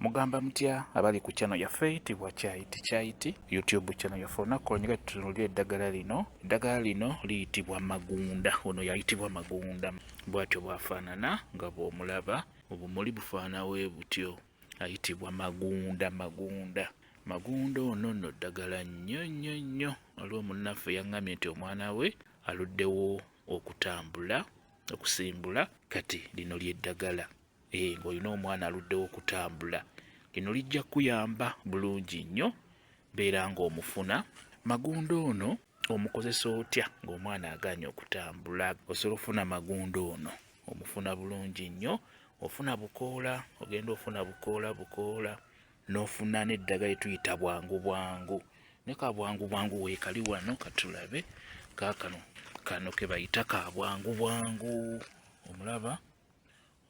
mugamba mutya abali ku channel yaffe itibwa kyayiti kyayiti youtube channel yaffe olunaku olonyiga tutunulira eddagala lino eddagala lino liyitibwa magunda ono yayitibwa magunda bwatyo bwafaanana nga bwomulaba obumuli bufaanawe butyo ayitibwa magunda magunda magunda ono no ddagala nnyo nnyo nnyo waliwo munnaffe yaŋŋamye nti omwana we aluddewo okutambula okusimbula kati lino lyeddagala Eh, ng'olina omwana aluddewo okutambula lino lijja kukuyamba bulungi nnyo beera ng'omufuna magunda ono omukozesa otya ng'omwana agaanye okutambula osobola okufuna magunda ono omufuna bulungi nnyo ofuna bukoola ogenda ofuna bukoola bukoola n'ofuna n'eddagala etuyita bwangu bwangu ne ka bwangu bwangu weekali wano katulabe kaakano kano ke bayita ka bwangu bwangu omulaba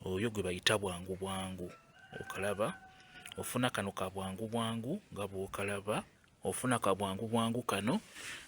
oyo gwe bayita bwangu bwangu okalaba ofuna kano ka bwangu bwangu nga bwokalaba ofuna ka bwangu bwangu kano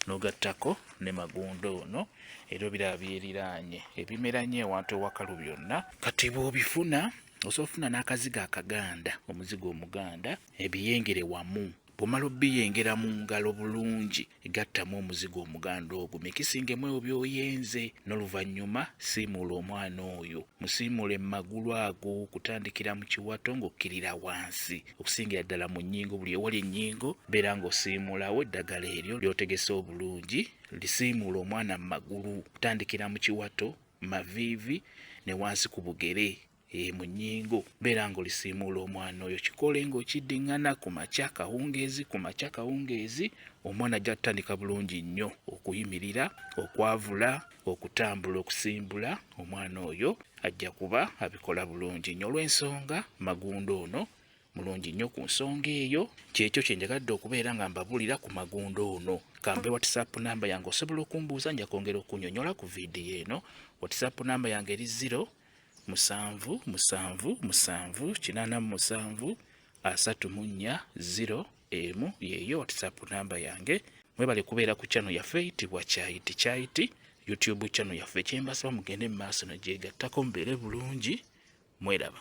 nogattako ne magundo ono era obiraba byeriraanye ebimera nyo ewantu ewakalu byonna kati bwobifuna osobola ofuna n'akazigo akaganda omuzigo omuganda ebiyengere wamu bwomala obiyengera mu ngalo bulungi gattamu omuzigo omuganda ogwo mikisingemu ebyo byoyenze n'oluvannyuma siimuula omwana oyo musiimuule mu magulu ago okutandikira mu kiwato ng'okkirira wansi okusingira ddala mu nnyingo buli ewali ennyingo beera ng'osiimuulawo eddagala eryo lyotegese obulungi lisiimuula omwana mu magulu okutandikira mu kiwato maviivi ne wansi ku bugere e mu nnyingo beera ng'olisiimuula omwana oyo kikole ng'okiddiŋŋana ku makya kawungeezi ku makya kawungeezi omwana ajja kutandika bulungi nnyo okuyimirira okwavula okutambula okusimbula omwana oyo ajja kuba abikola bulungi nnyo olw'ensonga magunda ono mulungi nnyo ku nsonga eyo kyekyo kyenjagadde okubeera nga mbabulira ku magunda ono kambe whatsapp namba yange osobola okumbuuza nja kwongera okunyonyola ku vidiyo eno whatsapp namba yange eri 0 musanvu musanvu musanvu kinaana mu musanvu asatu mu nnya ziro emu yeeyo whatsapp namba yange mwebale kubeera ku channel yaffe eyitibwa kyayiti kyayiti youtube channel yaffe kyembasaba mugende mu maaso nagyegattako mubeere bulungi mweraba